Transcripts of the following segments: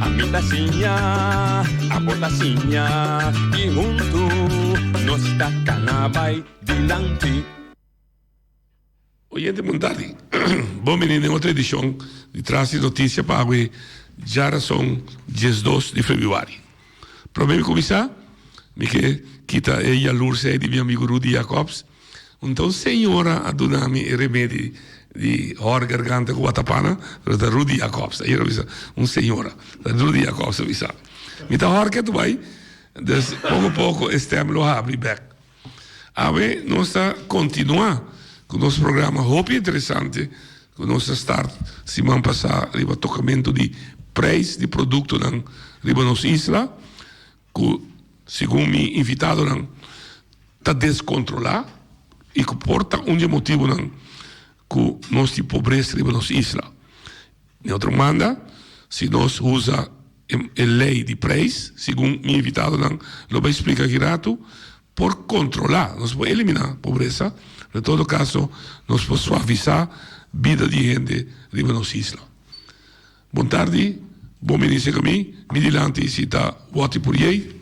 Ami ta siña, abo ta siña i huntu nos ta kana bai dilanti. Oyente punta di Bon bini den otro edicion di Tras di Noticia pa awe djarason diesdos di Febuari. Prome mi cuminsa, mi ke kita e yalurse ei di mi amigo Rudy Jacobs. Unta un señora a duna mi e remedi di hor garganta ku watapana, lo ta Rudy Jacobs, ayer a bisa un señora, ta Rudy Jacobs a bisa. Mi ta hor ke ta bai, dus poko poko e stem lo habri bek. Awe nos ta kontinua ku nos programa hopi interesante ku nos a start siman pasa riba tokamentu di preis di produktonan riba nos isla. cu segun mi invitadonan ta descontrola y cu por ta un di e motibonan cu nos tin pobreza riba nos isla. Den otro manda si nos usa e ley di prijs segun mi invitadonan lo bay splica aki ratu por controla, nos por elimina pobreza pero en todo caso nos por suavisa bida di hende riba nos isla. Bon tardi, Bo menice ca mi, mi dilanti si ta Watty Poirier,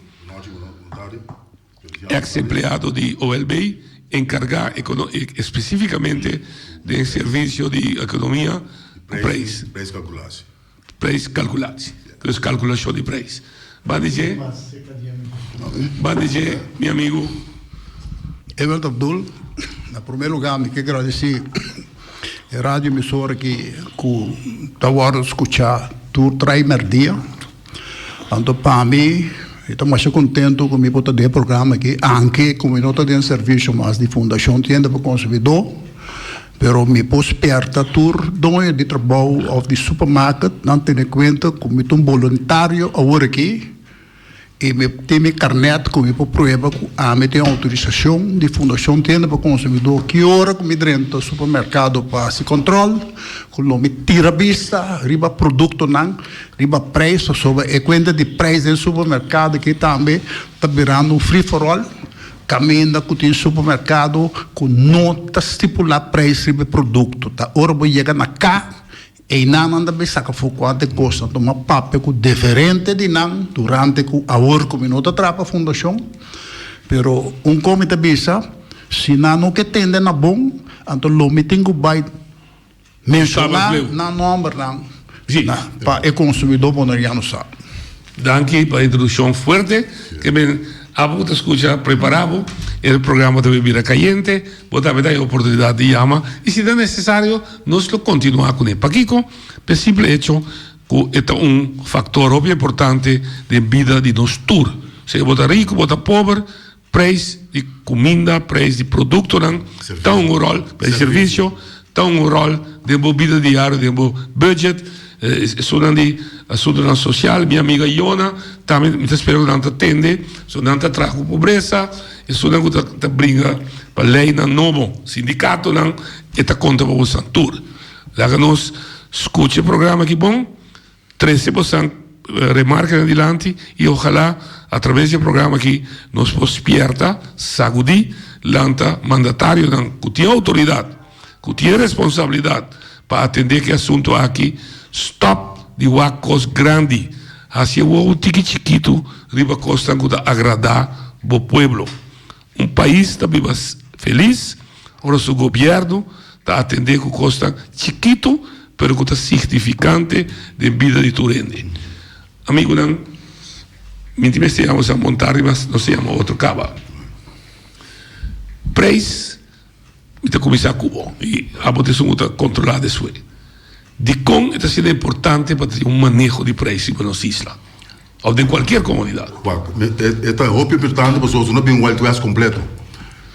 ex empleado di OLB, encarga especificamente den servicio di economia cu prijs, prijs calculatie, dus calculacion di prijs. Banda dje, banda dje mi amigu. Evert Abdul, Na promé lugá mi ke gradisí e radio emisora aki ku ta wòrdu skuchá tur trai mèrdia. Anto pa mi mi ta masha kontentu ku mi por ta den e programa aki, aunke ku mi no ta den servishon mas di Fundashon Tienda pa Konsumidó. Pero mi por spierta tur doño di trabou of di supermarket nan tene cuenta cu mi ta un boluntario awor aki y mi tin mi carnet cu mi por prueba cu ami tin autorisacion di Fundacion Tienda pa Consumidor. Ki ora cu mi drenta supermercado pa haci control cu lo mi tira bista riba productonan, riba prijs pasobra e cuenta di prijs den supermercado aki tambe ta birando un free for all Caminda cu tin supermercado cu no ta stipula prijs riba e producto, ta ora bo yega na ca, eynan nan ta bay saca for cuanto e costa, nan tuma papia cu deferente di nan durante cu awor cu mi no ta traha pa fundacion, pero un con mi ta bisa, si nan no ke tende na bon, anto lo mi tin cu bay. Menshoná nan nòmbernan pa e konsumidó boneriano sa. Danki pa e introdushon fuerte ke mi abo ta skucha prepará bo. E programa ta bira kayente, bo ta beta e oportunidat di yama i si ta nesesario nos lo kontinuá kuné. Pakiko? P'e simple echo ku e ta un faktor hopi importante den bida di nos tur. Sea bo ta riku, bo ta pober. Prijs di kuminda, prijs di produktonan ta un ròl, prijs di servisio ta un ròl den bo bida diario, den bo bùdjèt, esunnan di asuntunan sosial. Mi amiga Iona tambe mi ta spera ku nan ta tende, pasobra nan ta traha ku pobresa, esunnan ku ta bringa pa leinan nobo, sindikatonan, e ta konta pa boso tur. Laga nos skucha e programa aki bon. Trece bo san remarca den dilanti y ojalá a traves d'e programa aki nos por spierta, sacudi, lanta mandatarionan cu tin autoridad, cu tin responsabilidad pa atende ki asunto aki, stop di wak cos grandi, haci'e wowo tiki chikitu riba cosnan cu ta agrada bo pueblo. Un pais ta biba felis ora su gobièrnu ta atendé ku kosnan chikitu pero ku ta signifikante den bida di tur hende. Amigunan, minti mester yama nos a montá riba nos a yama otro kaba. Preis. Mi ta kuminsá ku bo, i abo ta esun ku ta kontrolá despues. Dikon e ta siña importante pa ta tin un maneho di preisnan pa nos isla, òf den kualkier komunidat? E ta hopi importante pasobra si no bin Wild West kompleto,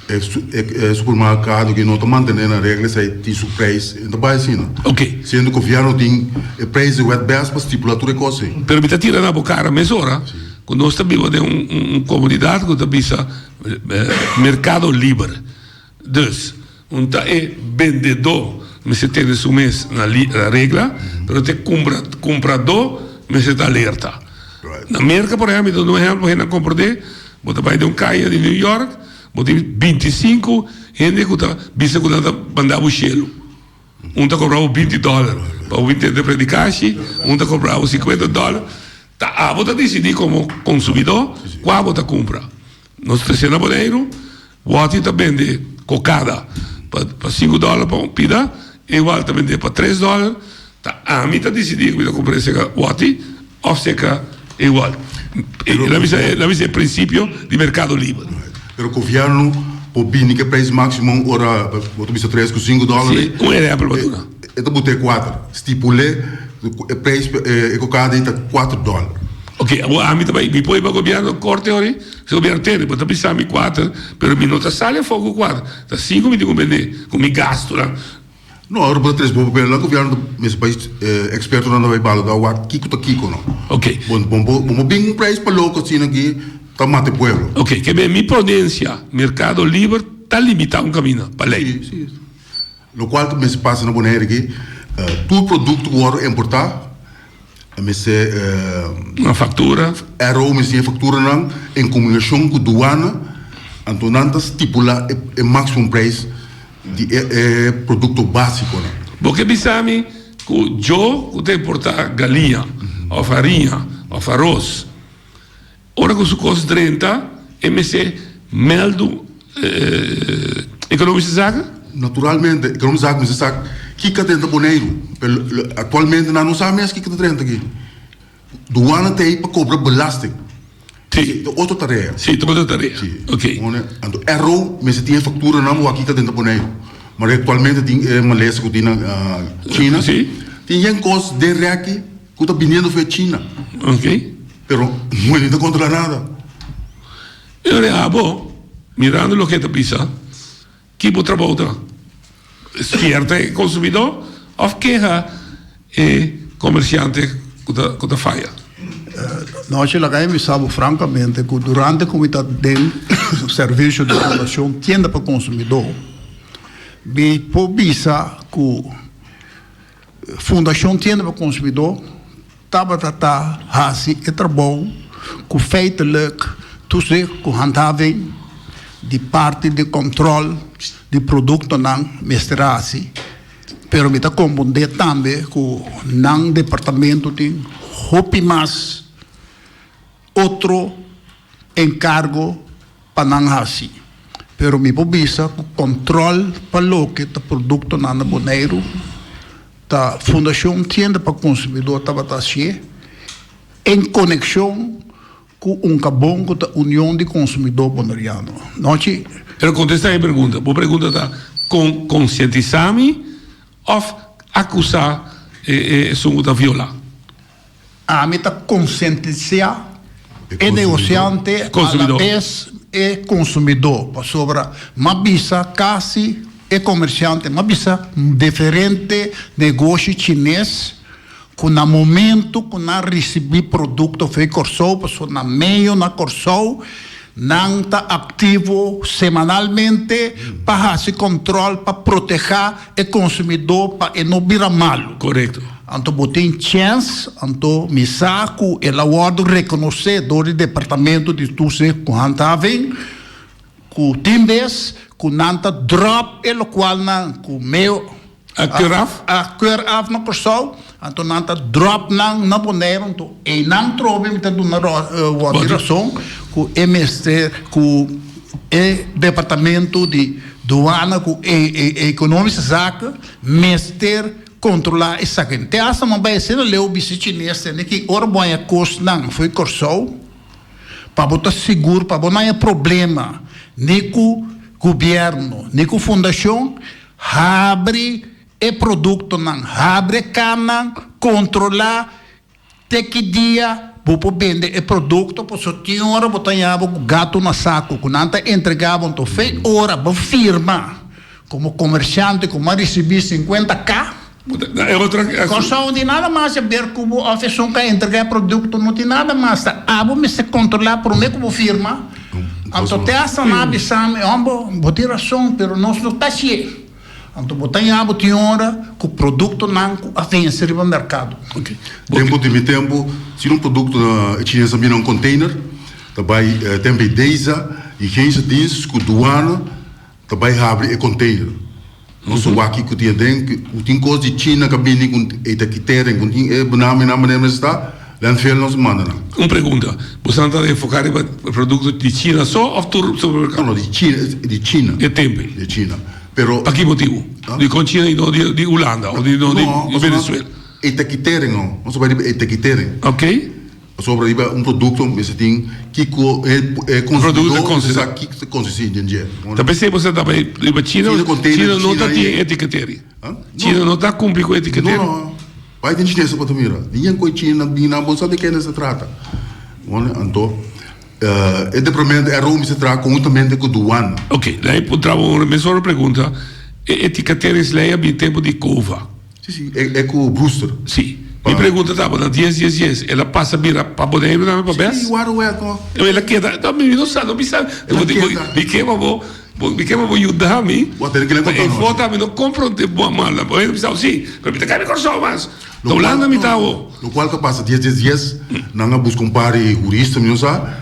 e supermerkado ku no ta mantené nan regla esei tin su preis, i no ta bai asina. Siendo gobièrnu tin e preis di Wild West pa stipulá tur e kos ei. Pero mi ta tira na bo kara mesora ku nos ta biba den un komunidat ku ta bisa. Merkado liber. Dus, un ta e bendedó mester tene su mes na regla, pero ta e kompradó mester ta alerta. Na Merka, por ehèmpel, i ta duna un ehèmpel pa hende a komprondé, bo ta bai den un kaya di New York, bo tin binti i sinku hende ku ta bisa ku nan ta bandá bo shelu. Un ta cobra bo binti dollar pa bo intenta predica ashi, un ta cobra bo cincuenta dollar, ta abo ta dicidi como consumidor cua bo ta cumpra. Nos trece na Boneiru, Worthy ta bende cocada pa cinco dollar pa un pida, Ewald ta bende pa tres dollar, ta ami ta dicidi cu mi ta cumpra esega Worthy, Of seca e igual. Lo bisa e principio di mercado libre. Pero gobierno por bini cu e prijs maximum ora bo ta bisa tres cu cinco dollar. Si, un ehempel bo ta duna. E ta buta e cuater, stipule e prijs pa e cocada ei ta cuater dollar. Ok, awor ami ta bai mi poi pa gobierno corte horai, si gobierno tene bo ta bisa mi cuater pero mi no ta sali afor cu cuater, ta cinco mi tin cu bende cu mi gastonan. No, ora bo ta tres bo papel nan gobierno ta mester bai experto nan ta bai balo da wak kiko ta kiko no okay bo bo mo bin un prijs pa loco asina aki ta mata e pueblo. Okay ke ben mi prudencia mercado liber ta limita un caminda pa ley. Si si locual ta mester pasa na Bonaire aki tur producto cu worde importa A mester e faktura. RO mester e fakturanan en komunikashon ku duana, anto nan ta stipulá e maksimum preis di e produkto básikonan. Bo ke bisa mi ku yo ku ta importá galiña òf hariña òf aros. Ora cu su cos drenta, e mester meldu Economische Zaken? Naturalmente, Economische Zaken mester sa kiko ta drenta Boneiru. Pe actualmente nan no sa mes kiko ta drenta aki. Douana ta ei pa cobra belasting. Si. E ta otro tarea. Si, e ta otro tarea. Si. Ok. Anto RO mester tin e facturanan wak kiko ta drenta Boneiru. Mar'e actualmente tin e malesa cu tin na China. Si. Tin yen cos den reki. Cu ta biniendo fue China. Ok. Pero moe ni ta controla nada. E lo deha bo, mirando loke ta bisa, ki bo trabou ta? Sfierta e consumidor of keha e comerciante cu ta faya? Nochi, laga mi bisa bo francamente cu durante cu mi ta den servicio di fundacion Tienda pa Consumidor, mi por bisa cu, Fundashon Tienda pa Konsumidó tabata ta hasi e trabou ku feitelik tusdé ku handhaving di parti di kòntròl di produktonan mester hasi, pero mi ta kombundé tambe ku nan departamentu tin hopi mas. otro encargo pa nan haci, pero mi por bisa cu control pa loke ta productonan na Boneiru ta Fundacion Tienda pa Consumidor tabata hacié en coneccion cu un cabon cu ta Union di Consumidor Boneriano. Nochi. Pero contesta e pregunta. Bo pregunta ta con concientisa mi of acusa esun cu ta viola? Ami ta konsientisá e negosiante, alabes e konsumidó, pasobra m'a bisa kasi e komersiante, m'a bisa diferente negoshi chines ku na momentu ku nan risibí produkto fei Kòrsou, pasobra na medio na Kòrsou nan ta aktivo semanalmente pa hasi kòntròl, pa protehá e konsumidó pa e no bira malu. Korekto. Anto bo tin chèns, anto mi sa ku el a wòrdu rekonosé dor di Departamento di Toesig ku Handhaving ku tin bes ku nan ta dròp e lokualnan ku meu a keur af na Kòrsou Anto nan ta drop nan na Boneiru anto einan trobe mi ta duna wòrdu di rason ku e mester ku e departamentu di Duana ku e Ekonomiske Zaken mester kontrolá esaken. Te asta nan bai asina leu bisita chines tende ki ora bo haña kos nan for di Kòrsou pa bo ta sigur pa bo no haña problema ni ku gubièrnu ni ku fundashon habri E produktonan habre kannan kontrolá te ki dia bo por bende e produkto pasobra tin ora bo ta yahabo ku gatu na saku ku nan ta entregá bo anto fe ora bo firma komo komershante ku bo a risibí sinkuenta ka kòrsou no tin nada mas a ber ku bo òf esun ka entregá e produkto no tin nada mas ta abo mester kontrolá promé ku bo firma anto te asta nan a bisami hòmber bo tin rason pero nos no ta shié. Anto bo ta ya bo tin ora ku produktonan ku a vense riba merkado. Tempu di mi tempu si un produkto na e chines a mina un konteiner ta bai temp e deza i gensia dienst ku duana ta bai habri e konteiner nos ta wak kiko tin aden ku tin kos di china ka bini ku ei ta kiter en ku tin e bo nan mi nan manera mester ta. Den fiel nos mandanan. Un pregunta, bo san ta enfoka riba produkto di China so of tur supermerkado? No, no, di China. E tempe. Di China, pero. Paki motibu? Dikon China i no di Ulanda of di no di Venezuela? No, pasobra etiketering no, nos ta bai riba etiketering. Ok. Pasobra riba un produkto mester tin kiko e konsumidor mester sa kiko ta konsisti den dje. Ta p'esei bo sa ta bai riba China? China no ta tin etiketering? China no ta kumpli ku etiketering? No, no. Bai den chinese pa ta mira. Di yen koe chino nan bin nan bon sa de kende ta trata. One anto e departamento e romi se traha conjuntamente cu douane. Ok, la e por traba un remesora pregunta, e eticatera is ley a bin tempo di cova? Si si, e cu Brewster. Si. Mi pregunta taba na dies dies dies el a pasa bira pa Boneiru tambe pa bes? Si, waro wet no. Ela keda, mi no sa no mi sa, mi keba bo. Bo di kema bo yuda mi? Bo a tene ke la konta nos. Envota mi no konfronte bo a malnan. Bo a hende bisao si, pero mi ta kai mi Kòrsou mas. Ta Hulanda mi ta awo. Lokual ta pasa dies dies dies nan a buska un par di hurista mi no sa.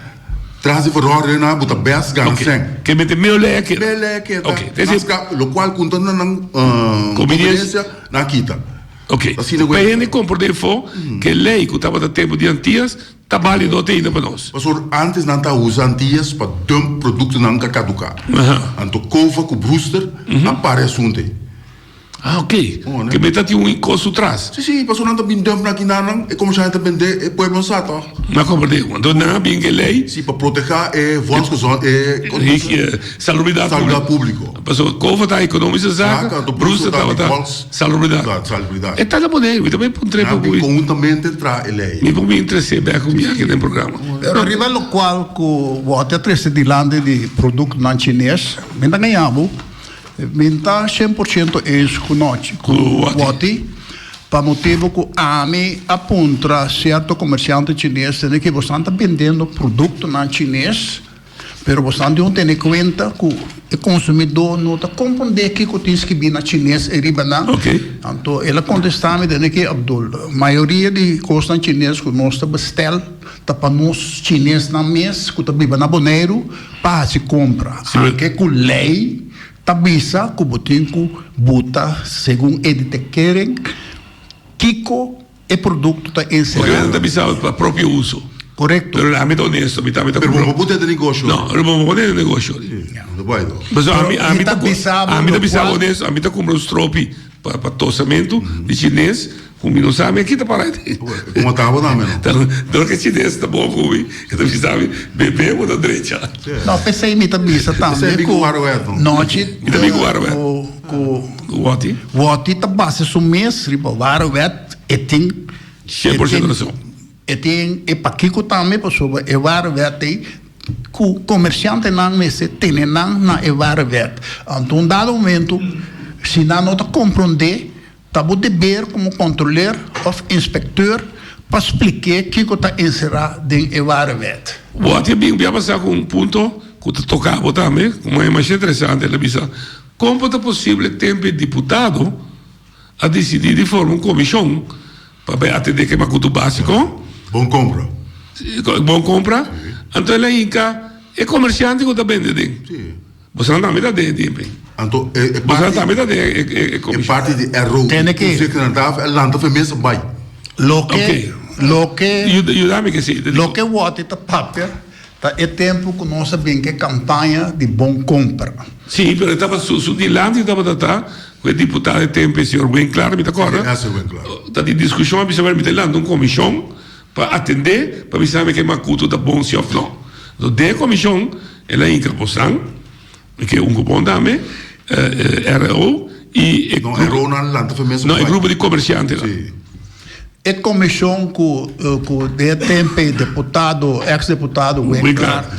Tras di verhoren nan bo ta bèst gana sèn. Ke mete meo lei ke. Meo lei ke ta. Oke. Nan ska lokual konta na nan konbiniensia nan a kita. Oke. Asina ku e. P'e hende kompor den fo ke lei ku tabata tempu di antias. Ta bálido teinta pa nos. Pastor, antes nan ta usa antias pa dump productonan ta caduca. Anto Cova cu Brewster a pare asunto ey. Ah ok, kibé ta tin un cosu tras. Sí, sí, pastor nan ta bin dump na aki na nan e comercial nan ta bendé e pueblo sa to. Na comprendé cu anto nan a bin ke ley. Sí, pa protegá e volksgezond, e con ta se. Salubridad publico. Salubridad publico. Pastor Cova ta economische zaken, Brewster tabata. Salubridad. Sa, salubridad. E tata bodei, mi ta bay puntra e papu. Nan di conjuntamente traha e ley. Mi por mi interesé bek cu biaha den programa. Pero riba lo cual cu bo a trece dilanti di productonan chines, mi ta ngaña bo, mi n'ta cien por ciento eens cu nochi, cu woti, pa motibo cu ami a puntra cierto comerciante chines dende kibosan ta bendendo productonan chines. Pero boso dion tene cuenta cu e consumidor no ta comprende kico tin skibi na Chines e riba nan. Anto el a contesta mi den ki, Abdul, mayoria di cosnan Chines cu nos ta bestel ta pa nos Chinesnan mes cu ta biba na Boneiru pa haci compra. Anke cu ley ta bisa cu bo tin cu buta segun e di te keren kico E produkto ta enserá. Porque nan ta bisaba pa propio uso. Korekto. Pero ami ta onesto, mi tata. Pero bo no bo pone den negosho. No, no bo no bo pone den negosho. Si, no ta bai no. Paso ami ami ta bisabo. Ami ta bisabo onesto, ami ta kumpra un stropi pa pa tosamento di chines ku mi no sa mi a kita para ete. Ku mata bo tambe no. Ta dor ke chines ta bou ku mi e ta bisa mi bebe bo ta drecha. No, p'esei mi ta bisa tambe ku. P'esei mi ku wara wet no. Nochi. Mi ta mi ku wara wet. Ku Woti. Woti ta base su mes riba ware wet e tin e tin e tin e pakiko tambe pasobra e ware wet ei ku komershantenan mester tene nan na e ware wet anto un dado momento si nan no ta kompronde. Ta bo deber komo kontroler òf inspektèur pa splik'é kiko ta enserá den e warewet. Bo a temí bia pasá ku un punto ku ta toká bo tambe, kuma e masha interesante, el a bisa, Kon por ta posible tempe diputado a disidí di forma un komishon pa bai atendé kema kutu básiko? Bon kompra. Bon kompra. Anto el a hinka e komersiante ku ta bende den. Bosan tambe ta den e DNP. Anto e e Bosan parti tambe ta den e e e e e commission. parti di ROP. Tene ki- Kuse kena ta e lanta fe mesa bai. Loke, Oké. loke, Yuda, yuda mi ke si. te dico. loke wòrdu ta papia ta e tempu ku nos a bin ku e kampaña di bon komper. Si, pero e taba su su dilanti e tabata ta ku e diputado e tempu e señor Win Clark, mi ta kòrda. Ese Win Clark. Ta di diskushon a bisa wèn mi ta lanta un komishon pa atendé pa bisa mi ke Makuto ta bon si òf no. So den e komishon el a hinka Kosang, ke ungku bon tambe, RO i e grupo. No, RO no a lanta fe mes. No, e grupo di komersiante la. Si. E komishon ku ku den e tempe deputado, eks deputado Win Clark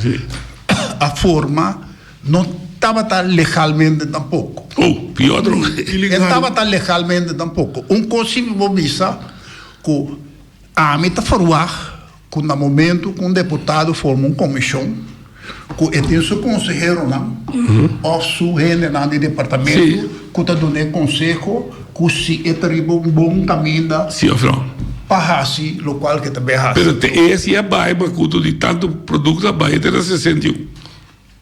a forma no tabata legalmente tampoko. Oh, pior droga. E tabata legalmente tampoko. Un kos si bo bisa ku Ami ta verwagt cu na momento cu un deputado forma un comision, cu e tin su conseheronan of su hendenan di departamento cu ta duna e conseho cu si e ta riba un bon caminda pa haci locual cu e ta bay haci. Pero te e si a bay, macuto di tanto producto a bay, e ta na sesenta i un.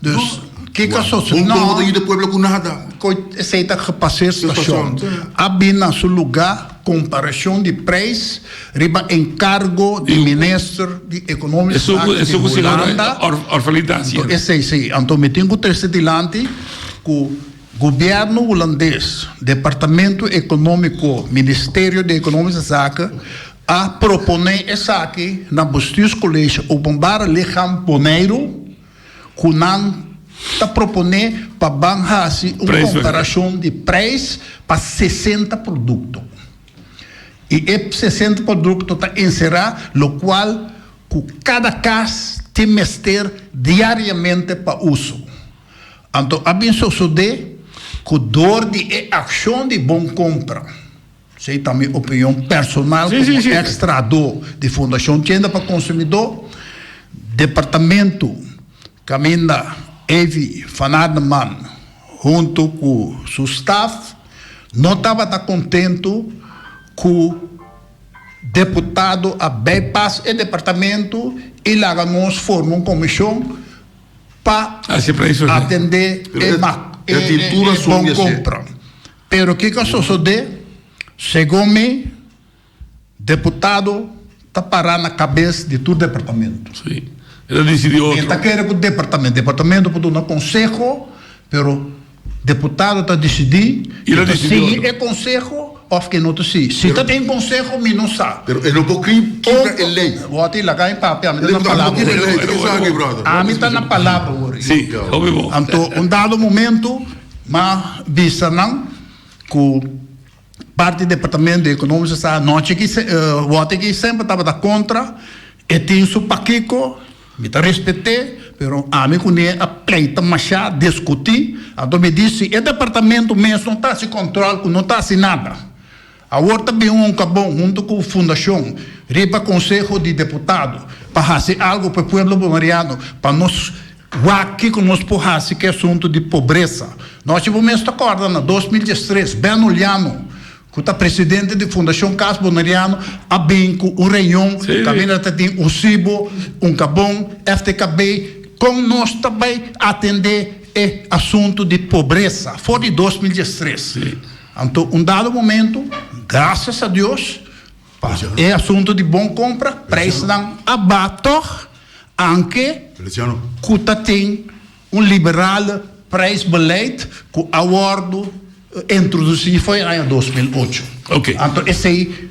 Dus ki ta sosi no koe esei ta gepasé stashon a bin na su lugá komparashon di preis riba enkargo di minister di ekonomiske zaken di Hulanda anto esei si anto mi tin ku trese dilanti ku gobièrnu hulandes departamento ekonomiko ministerio di ekonomiske zaken a proponé esaki na bestuurskolege openbare ligham Boneiru. ku nan ta proponé pa ban hasi un komparashon di preis pa sesenta produkto i e sesenta produkto ta enserá lokual ku kada kas tin mester diariamente pa uso. Anto a bin sosodé ku dor di e akshon di Bon Kompra, Esei ta mi opinion personal komo ex trahadó di fundashon. Kenda pa konsumidó, departamentu kaminda Evi van Arneman huntu ku su staf no tabata kontentu ku deputado a bai pas e departamentu i laga nos forma un komishon pa atendé e bon kompra. Pero kico a sosode? Segun mi, deputado ta para na cabes di tur departamento. Mi ta kere cu departamento, departamento por duna conseho, pero deputado ta dicidi si e ta sigui e conseho of ke no ta sigui. Si ta tin conseho, mi no sa. Pero e no por kibra e ley. Wacht e, laga mi papia, ami ta na palabra wor. Ami ta na palabra wor. Anto un dado momento. Ma bisa nan ku parti departamento economico sa anochi aki wòrdu aki semper tabata kontra e tin su pakiko mi ta respet'e pero ami kuné a pleita mashá diskutí anto mi di si e departamento mes no ta hasi kòntròl ku no ta hasi nada Awor ta bin un kabon huntu ku Fundashon riba konseho di deputado pa hasi algu pa e pueblo bolivariano pa nos wak kiko nos por hasi ku e asuntu di pobresa. Nochi bo mes ta kòrda na dos mil dies tres Ben Uliano ku ta presidente di Fundashon Kas Boneriano a bin ku un reion kaminda ta tin un sibo, un kabon, FTKB kon nos ta bai atendé e asuntu di pobresa for di dos mil dies tres. Anto un dado momento, gracias a Dios pa e asunto di bon compra, prijsnan a ba tog, anke cu ta tin un liberale prijsbeleid cu a wordo introduci fo'i aña dos mil ocho. Anto esey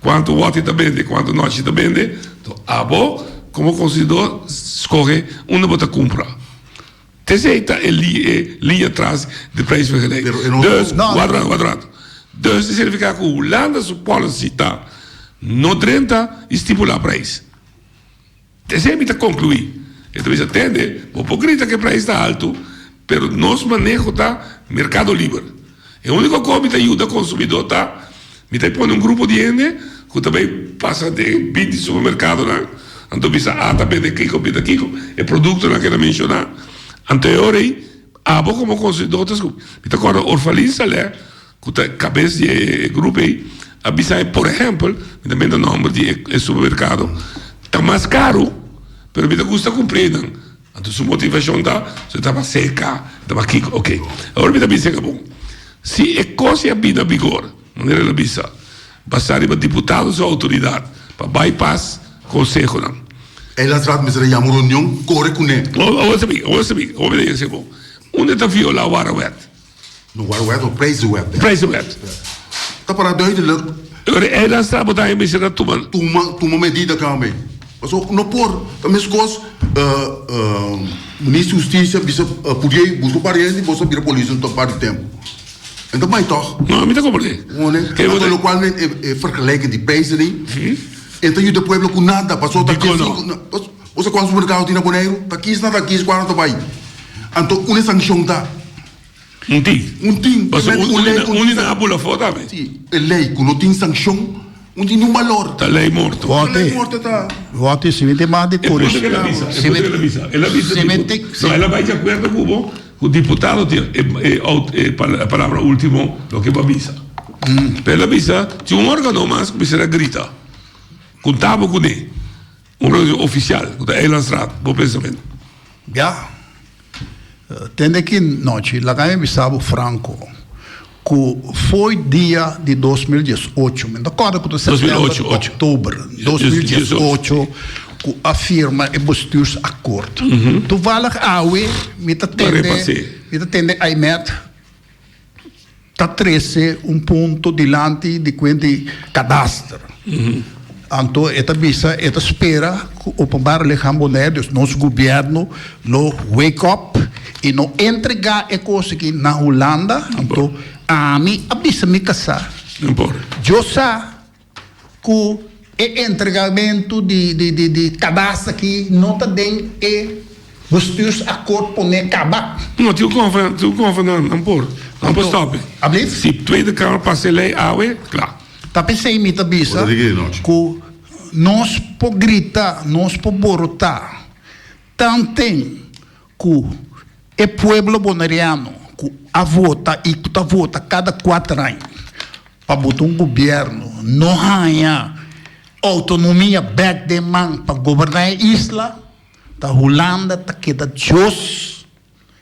Cuanto woti ta bende, cuanto nochi ta bende, to abo como consuidor scoge unda bo ta cumpra. Tcc ta e linea tras di prijsvergelijking. Dus, wacht rato, wacht rato. Dus ta significa cu Hulanda su policy ta, no drenta y stipula prijs. Esei mi ta conclui. E ta bisa, Tende, bo por grita cu e prijs ta alto, pero nos maneho ta mercado liber. E unico cos mi ta yuda consumidor ta mi ta pone un grupo di hende cu ta bay pasa den binti supermercadonan, anto bisa, Ata bende kico, bende kico, e productonan cu e ta menciona. Anto e ora ei, abo como consumidor ta scupí. Mi ta corda Orphalin Salè. ku ta kabes di e grupo ei a bisa e por ehèmpel mi ta menta nòmber di e supermerkado ta mas karu pero mi ta gusta kumpr'é nan anto su motivashon ta so e tabata serka e tabata kiko ok awor mi ta bisa eka bon si e kos ei a bina bigor manera el a bisa basa riba diputado su outoridat pa bai pas konsehonan. E las rat mester a yama un reunion kore kuné. Awor awor ta bin awor ta bin awor mi ta yega esaki bon unda ta viola warawèt. No Wide Web, no Praise the Web. Praise the Web. Ta para duidelijk. Lo di eiland strand bo ta haya mester a tuma. Tuma, tuma medida tambe. Paso no por, ta meskos Minister Husticia bisa pudia i buska pariente i boso bira polis un par di tempo. En ta bai tog. No, mi ta comprende. Ngone, paso lo cual men e vergelijking di prijzen ei e ta yuda pueblo cu nada paso ta. Di cono. Boso cuanto supermercado tin na Boneiru? Ta kis na ta kis cuando ta bay. Anto un e sancion ta. Un tin. Un tin. Paso un tin na un tin na apu la fo tambe. Si, e ley cu no tin sancion no tin niun balor. Ta ley morto. Wou te. Wou te si me te mande curios. E puta el a bisa. E puta el a bisa. El a bisa di cu no el a bay di acuerdo cu bo cu diputado tin e palabra ultimo lo ke bo a bisa. Pero el a bisa tin un organo mas cu bisa ta grita. Cunta bo cu ne. Un reunion oficial cu ta Eilandsstraat, bo pensamentu? Ya. Tende ki nochi laga mi a bisa bo franco cu fo'i dia di dos mil diesocho, mi no ta corda cu ta september o october, dos mil diesocho cu a firma e bestuursakkoord. Toevallig awe mi ta tende, mi ta tende Aimed. ta trese un punto dilanti di kuent di kadaster. Anto e ta bisa e ta spera ku Openbare Lichaam Bonaire, dus nos gobièrnu, lo wake up i lo entregá e kos aki na Hulanda. Anto ami a bisa mi kasa, yo sa. ku e entregamentu di kadasta aki no ta den e Bestuurs Akkoord pone kaba. No, tin un konfront nan por stop. Si Tweede Kamer pasa e lei awe, kla. Ta p'esei mi ta bisa ku nos por grita, nos por borotá tanten. Ku e pueblo Boneriano ku a vota i ku ta vota kada kuater aña pa bota un gobièrnu no haña outonomia bèk den man pa goberná e isla ta Hulanda ta keda dios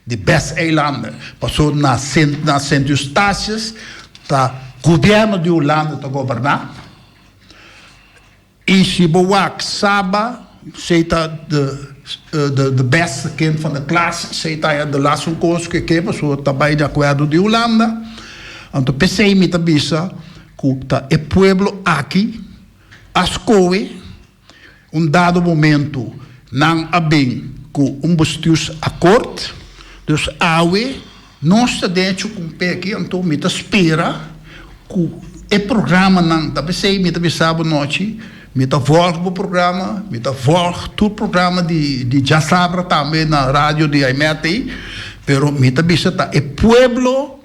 di Best Eilander paso na na Sint Eustatius ta gobièrnu di Hulanda ta goberná. Y si bo wak saba sey ta the best kend van de klas, sey ta ya de las un kos ku e ke paso ta bay de akuerdo di Hulanda. Anto pesey mi ta bisa ku ta e pueblo aki a skohe un dado momento nan a bin ku un bustius akort. Dus awe. Nos ta den e chukumpé aki, anto mi ta spera ku e programanan ta bisei. Mi ta bisa bo anochi, mi ta vòlg bo programa, mi ta vòlg tur programa di Djasabra tambe na radio di Aimet ei, pero mi ta bisa ta e pueblo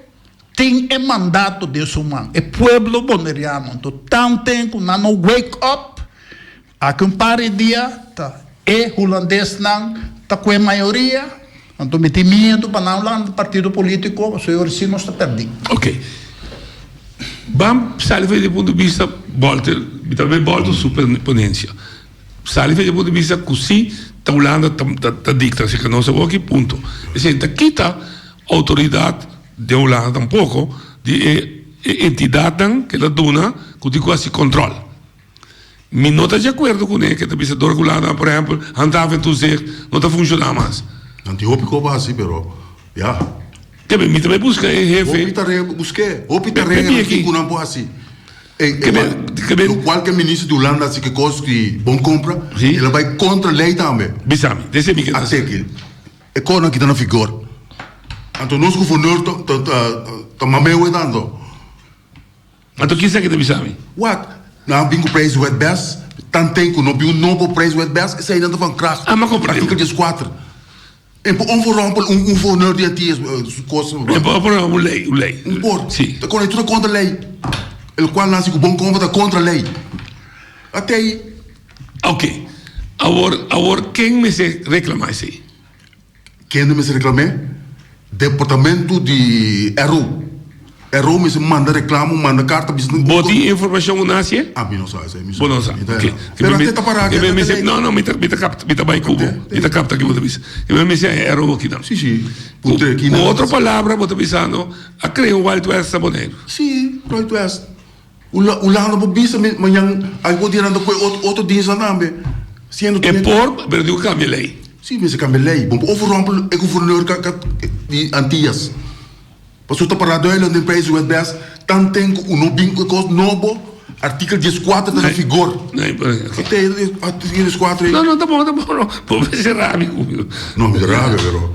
tin e mandato den su man, e pueblo boneriano. Anto, tan tempu nan no wake up. Aki un par di dia ta e hulandesnan ta ku e mayoria, anto mi tin miedu pa nan Hollanda partido politico so yo recibo nos ta perdi. Ok. Ban sali fa e punto di vista Bolter, mi ta bay Bolter su ponencia. Sali fa e punto di vista cu si ta Hollanda ta dicta si ca nos ta oki punto. Esey ta kita autoridad den Hollanda tampoco di e entidadnan ke ta duna cu tin cu haci control. Mi no ta di acuerdo cu ne ke ta bisa dor cu lana, por ehempel, handhaven toezicht no ta funciona mas. Nan tin hopi coba asi, pero ya. Te ben, mi ta bay busca e hefe. Hopi ta renga, busque, hopi ta renga nan tin cu nan por haci. Lo cual ke minister di Hulanda haci kikos di bon compra, el a bay contra ley tambe. Bisa mi, deci mi kinas. Ate aki, e conan aki ta na vigor. Anto nos guvernor ta mamewe tanto. Pato kisa ke ta bisa mi? Wak, no a bin ku prijs wet bes, tantei ku no bin un nobo prijs wet bes, esei nan ta van kracht. Ama kompra deu. Artikel dieskuater. E por ofo rompel un un fourneur di ati esbo su kos esbo ba. E por ofo rompel un lei, un lei. Un por. Si. Ta kore tur ta kontra lei. El kual nan si ku bon kompra ta kontra lei. Atei. Oke, awor awor ken mester reklama esei? Kende mester reklam'é? Departamento di RO. RO mester manda reklamo, manda karta bisita den Bo tin e informashon un haci'é? Ah, mi no sa esei, mi Bo no sa, ok. Pero ate ta para aki, ate ta lei. No, no, mi ta, mi ta kapta, mi ta bai kubo, mi ta kapta ki bo ta bisa. I bo ta bisa e RO aki nan. Si, si, ku tre kinan. Ku otro palabra bo ta bisando, a kreo Wild West ta Boneiru? Si, Wild West. Hulanda bo bisa mi mañan ai bo dianan ta koe otro dinsnan tambe siendo tu. E por pero tin ku kambia lei. Si mester kambia lei bo por ofo rompe e guvernor di antias pasobra ta para duidelik den pais di wetbest tan ten ku no bin ku e kos nobo artikel dies kuater ta na vigor artikel dies kuater ei. No no ta bon ta bon no por mester rabia ku mi no. No mi ta rabia pero.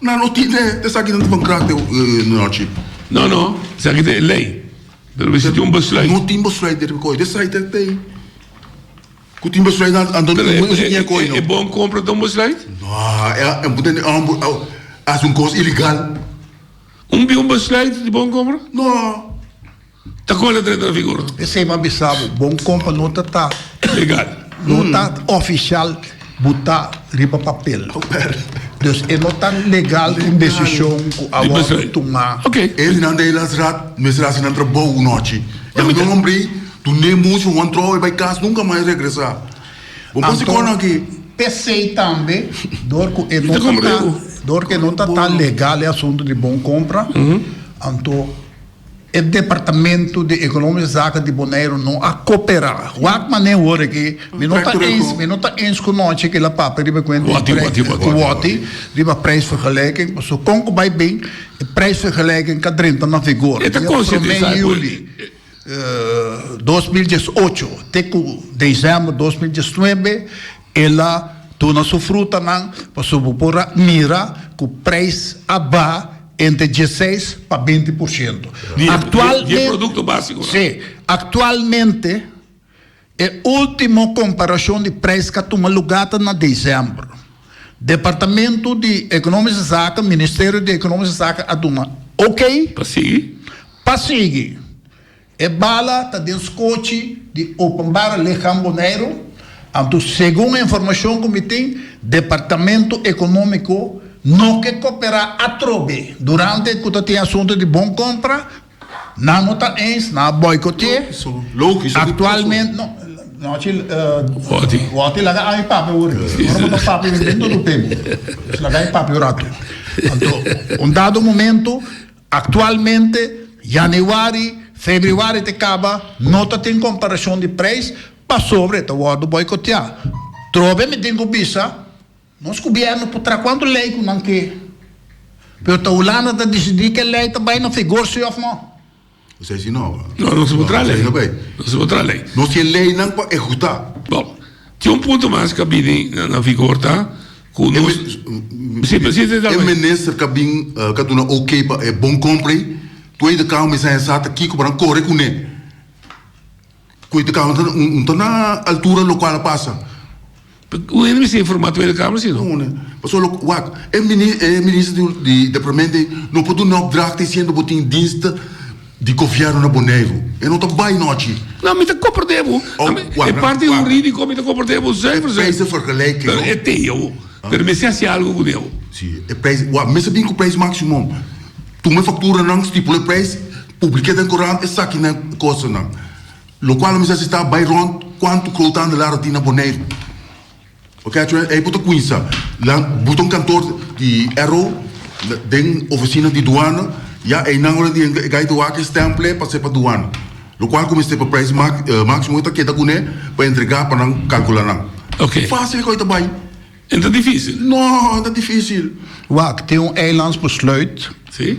Nan no tin e esaki nan ta ban kran den un hardship. No no esaki ta e lei pero mi si tin un besluit. No tin besluit den riba koi den site e tei ku tin besluit nan anto no tin besluit den koi no. E bon kompra ta un besluit? No e bo tene ambo hasi un kos ilegal. Un biun besluit di bon kompra? No. Ta kola ta entra vigor. Esei bo a bisa bo, bon kompa no ta ta. Legal. No ta ofishal, bo ta riba papel. Dus e no ta legal un desishon ku awor bo tuma. E nan ta e la strat, mester hasi nan trabou un nochi. Yami ta un hombre tunde mucho, wan trou e bai kas nunka mas e regresa. Bo por si kono aki. Pesei tambe dor ku e no ta ta, dor ku e no ta ta legal e asuntu di bon kompra, anto. E departamento di economische zaken di Bonaire no a coopera. Wak mane worde ki mi no ta eens, mi no ta eens ku nochi ki la papia riba kuenta di prijs, woti, riba prijsvergelijking, paso kon ku bai bin e prijsvergelijking ka drenta na vigor di prome juli dos mil dies ocho te ku desèmber dos mil diesnuebe. El a duna su frutanan, pasobra bo por a mira ku preis a ba entre dieseis pa beinti por siento. Aktualmente, si, aktualmente e último komparashon di preis ku a tuma lugá ta na desèmber. Departamentu di Ekonomiske Zaken, Ministerio di Ekonomiske Zaken a duna ok pa sigui. E bala ta den skochi di Openbare Lichaam Boneiru, anto segun e informashon ku mi tin, Departamento Ekonómiko no ke koperá atrobe durante ku ta tin asunto di bon kompra, nan no ta eens, nan a boikoteé aktualmente, no, nochi, Wòti laga ami papia wòrdu aki, si awor bo ta papia mi ben duru p'e bo, laga mi papia un ratu, anto un dado momento. Aktualmente, yanüari, febrüari te kaba, no ta tin komparashon di preis pasobra e ta wòrdu boikoteá. Trobe mi tin ku bisa nos gubièrnu por traha ku anto lei ku nan ke, pero ta Hulanda ta disidí ku e lei ta bai na figor sí òf nò. Nos ta hasi nova. No, nos por traha lei. Nos por traha lei. Nos tin leinan pa ehekutá. Bon, tin un punto mas ku a bini na figor ta. ku nos si presidente ta E minister ka bin ka duna ok pa e bon compra ei Tweede Kamer sa hesa ta kiko para nan kore kuné Tweede Kamer ta no ta na altura lo kual a pasa Wen mi bisa informa Tweede Kamer si no? Paso lo wak e minister di departamento ei no por duna opdracht disiendo bo tin dienst Di Govièrnu na Boneiru e no ta bai nochi. No, mi ta komprendé bo. E parti hurídiko mi ta komprendé bo zuiver, zuiver. Pero e teia bo. Pero mester hasi algu ku deo. Sí, e preis, wak, mester bin ku preis máksimo. Tuma e fakturanan, stipula e preis, publiké den korant esaki nan e kostanan. Lokual a mester asistá bai rònt kuantu kwoutanda lar a tin na Boneiru. Catherine, ei bo ta cuinsa. Nan, bo ta un kantor di Arrow, den oficina di duana, ya einan ora di e gai ta wak e stemple pa sepa duana. Locual cu mester pa prijs maximo e ta keda cu ne pa entrega pa nan calcula nan. Cu facil e coi ta bay? E ta dificil? No, e ta dificil. Wak, tin un eilands besluit. Si.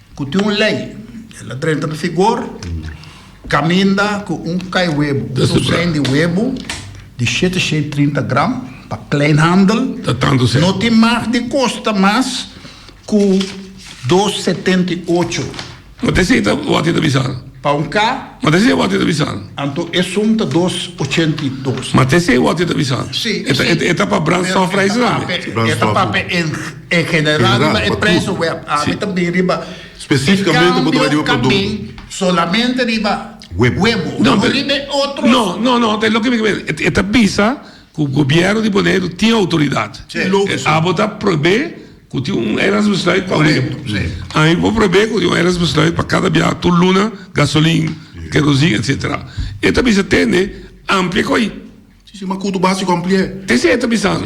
Ku tin un lei, el a drenta na figor kaminda ku un kai webu, un dosein di webu di shete shei trinta gram pa kleinhandel no tin mag di kosta mas ku dos setenta i ocho. M'a te seta wak e ta bisa. Pa un ka. M'a te se wak e ta bisa. Anto e sum ta dos ochenta i dos. M'a te se wak e ta bisa. Si, si. E ta pa brandstofprijzen tambe. E ta pap'e en. E general riba e preso web a haber tambe riba e cambio tambe solamente riba webo no riba e otros. No no no ta loke mi ta mira e ta bisa cu gobierno di Boneiru tin autoridad abo ta probe cu tin un era responsabilidad pa webo ami por probe cu tin un era responsabilidad pa cada biaha tur luna gasolin kerosin etcetera e ta bisa tende amplia cu ayi. Si si ma cu tu base cu amplia. Te si e ta bisando.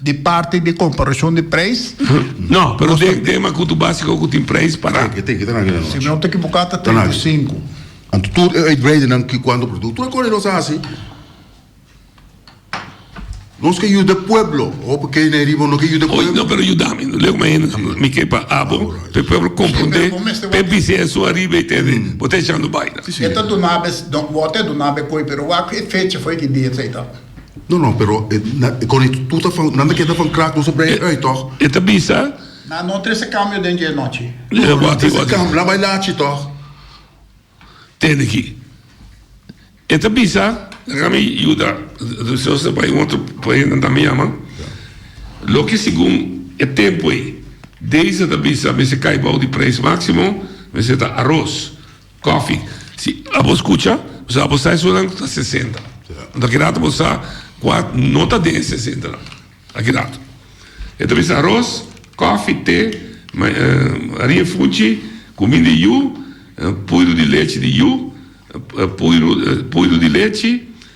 di parti di komparashon di preis. No, pero den den makutu básiko ku tin preis pará. Yo teken ta na akí la nochi. Si mi no ta ekivoká ta treinta i sinku. Anto tur e uitbreidennan ki kuantu produkto. Tur e kos ei nos a hasi nos ke yuda e pueblo. Hopi ke na e riba no ke yuda e Oye, pueblo. no, pero yudá mi. Leu mi ahintu nan. Mi ke pa abo, Alright. pe pueblo komprondé, Pero bo mester pe wak- bis'é esun ariba i tende. Bo ta echando baina. E ta dunabes, don, bo te dunabes koi, pero wak e fecha foi ki dia esei ta. No no pero kono tu ta fan nan ta keda fan krak nos a brei ui tog. E ta bisa. Nan no trese kambio den dje nochi. No no trese kambio nan bai lachi tog. Tene ki. E ta bisa. Deja mi yuda Jose bai un otro poema nan ta mi yama loke segun e tempo ei Deise ta bisa mester kai bou di prijs maximo mester ta aros. Kòfi, si abo skucha, pasobra abo sa esunnan ta sesenta. Anto akirato bo sa kua no ta den e sesentanan. Akirato. E ta bisa aros, kòfi, te, harin funchi, kumin di yu, puiru di lechi di yu, puiru di lechi.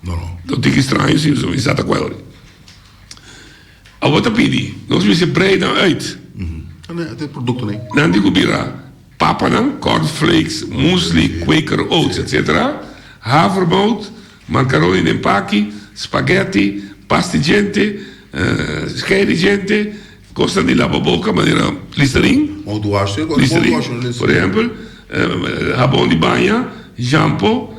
No, no tin ki straño si nos kuminsá ta ku el. Awor ta pidi, nos mester brei nan uit. Nan tin ku bira, papanan, corn flakes, muesli, Quaker Oats, etc. Havermout, marcaroni den paki, spaghetti, pasti djente, skei di djente, kosnan di laba boka manera listerin, por ehempel, habon di baña, shampo,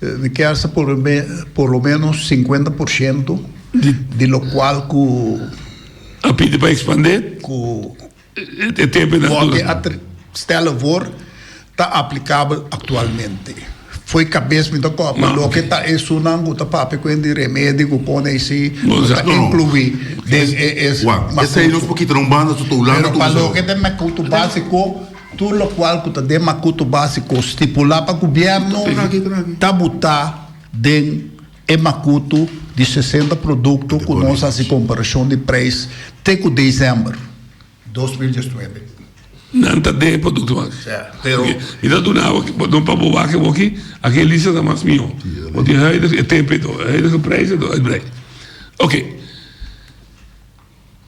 Di kèrsè por lo ménos sinkuenta por shento di lokual ku. A pidi pa ekspandé. Ku wòrdu stèlè for ta aplikabel aktualmente. Foi kabes mi ta kòpia loke ta esunnan ku ta papia ku hende remedio ku pone eisei lo ta inkluí den e. Wak, esei nos por kita na un banda so ta Hulanda ta usa. Pero pa loke ta mèkoutu básiko. Tur lokual ku ta den makuto básiko stipulá pa gubièrnu ta butá den e makuto di sesenta produkto ku nos hasi komparashon di preis te ku desèmber dos mil diesnuebe. Nan ta den e produktonan aki. Sè, pero. Mi ta duna bo aki, bo pa bo wak bo aki, aki e lista ta mas mihó. Bo tin huidige e tempo edo, e huidige preis edo e brei. Oke,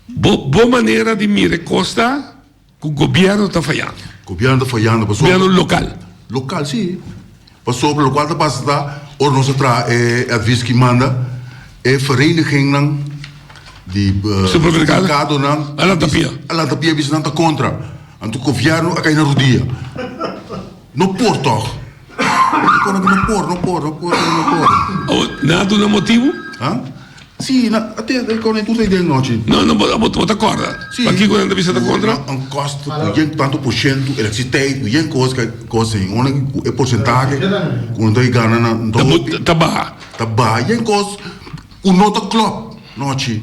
bo bo manera di mira e kos ta. Cu gobierno ta fayando. Gobierno ta fayando pasobra. Gobierno local. Local si pasobra locual ta pasa ta ora nos a traha e advies ki manda e vereniginnan di supermercadonan a lanta pia bisa nan ta contra anto gobierno a cay na rudia no por tog. Di kora ku no por, no por, no por, no no por. Oh, nan a duna motibu? Ha? Si, na, ate e kora e kursa i den nochi. No, no, bo, bo, bo ta korda. Si. Pa kiko nan ta bisa ta kontra? No, un kost ku yen tantu por sientu elektrisiteit, ku yen kos ka kos en una ku e porsentahe ku nan ta ke gana na Ta bu, ta baha. ta baha. Yen kos ku no ta klòp nochi.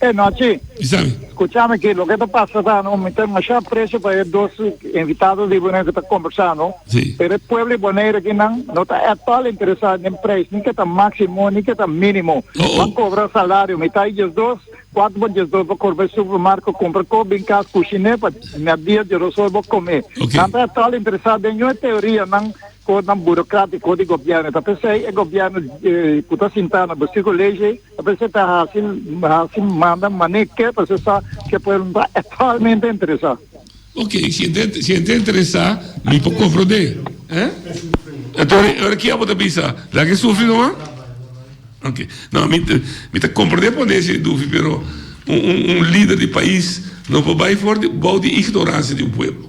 E nochi. Kisabi. Skuchami ki, loke ta pasa ta no, mi ta masha aprecio pa e dos invitado di Bonaire ku ta kombersá no, Si. pero e pueblo di Bonaire akinan no ta at all interesá den preis, ni ke ta máksimo, ni ke ta mínimo, Oh, oh. pa kobra salario. Mi ta i djes dos, kuater pa djes dos bo kor bay supermarko kompra kop, bin kas kushiné pa mèddia dje rosor bo komé. Ok. Nan ta at all interesá den yon e teorianan, kosnan burokratiko di gobièrnu. Ta p'esei e gobièrnu ku ta sintá na Bestuur College, E prese ta hasi hasi manda mane ke prese sa ke pueblo no ta at all mente interesa. Ok, si e ta si e ta interesa mi por compro de eh? Enton ora ki abo ta bisa laga e sufri no man? Ok no mi ta mi ta compro de pone ese dufi pero un un un lider di pais no por bay for di bou di ignorancia di un pueblo.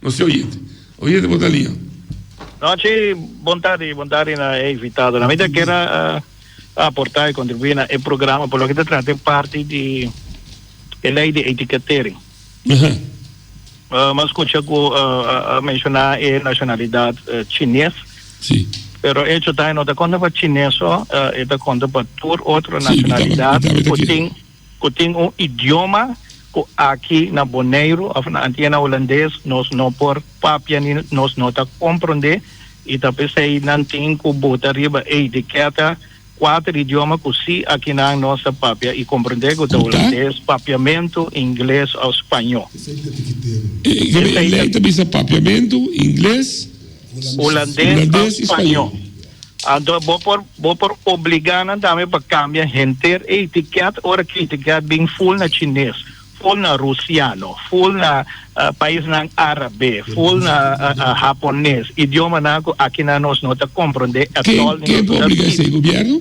Nos te oye te. Oye te bo ta lia. Nochi, bontadi, bontadi na e invitado. Na mi ta kier a aporta y contribuir na e programa pa loke ta trata e parti di e ley di etiquetering. M'a scucha cu a menciona e nacionalidad Chines. Si. Pero e hecho ta e no ta conta pa Chines so, e ta conta pa tur otro nacionalidad cu tin. ku tin un idioma ku aki na Boneiru òf na Antiena Hulandes nos no por papia ni nos no ta komprondé i ta p'esei nan tin ku buta riba e itikèta kuater idioma ku si akinan nos ta papia i komprondé ku ta Hulandes, papiamentu, Ingles òf Spañó. Esei ta tikitero. E lei ta bisa papiamentu, Ingles, Hulandes òf Spañó. Anto bo por bo por obligá nan tambe pa kambia henter e etiket ora ki etiket bin ful na chines, ful na rusiano, ful na paisnan árabe, ful na hapones, idiomanan ku akina nos no ta komprondé etol ni no ta. Ken ke por obligá esei? Gobièrnu?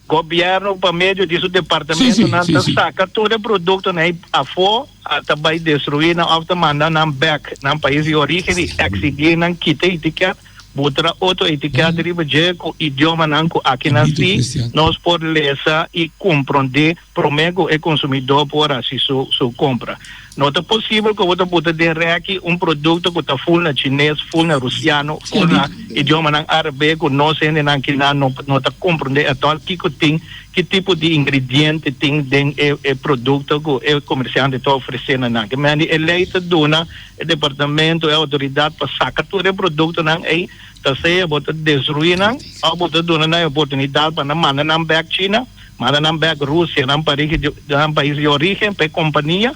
Gobièrnu pa medio di su departamentonan ta saka tur e produktonan ei afo a ta bai destruí nan òf ta manda nan bèk nan pais di orígen i eksigí nan kita itikèt, butra otro itikèt riba dje ku idiomanan ku aki nasí nos por lesa i komprondé promé ku e konsumidó por hasi su kompra. No ta posibel ku bo ta buta den rèki un produkto ku ta ful na chines, ful na rusiano, ful na idiomanan árabe ku nos hendenan kinan no no ta komprondé atòl kiko tin, ki tipo di ingrediente tin den e e produkto ku e komersiante ta ofresé na nan. Kemendi e lei ta duna e departamento, e outoridat pa saka tur e produktonan ei, ta sea bo ta destruí nan òf bo ta duna nan e oportunidat pa nan manda nan bèk China, Manda nan bek Rusianan pa rigi nan pais di origen pa e kompania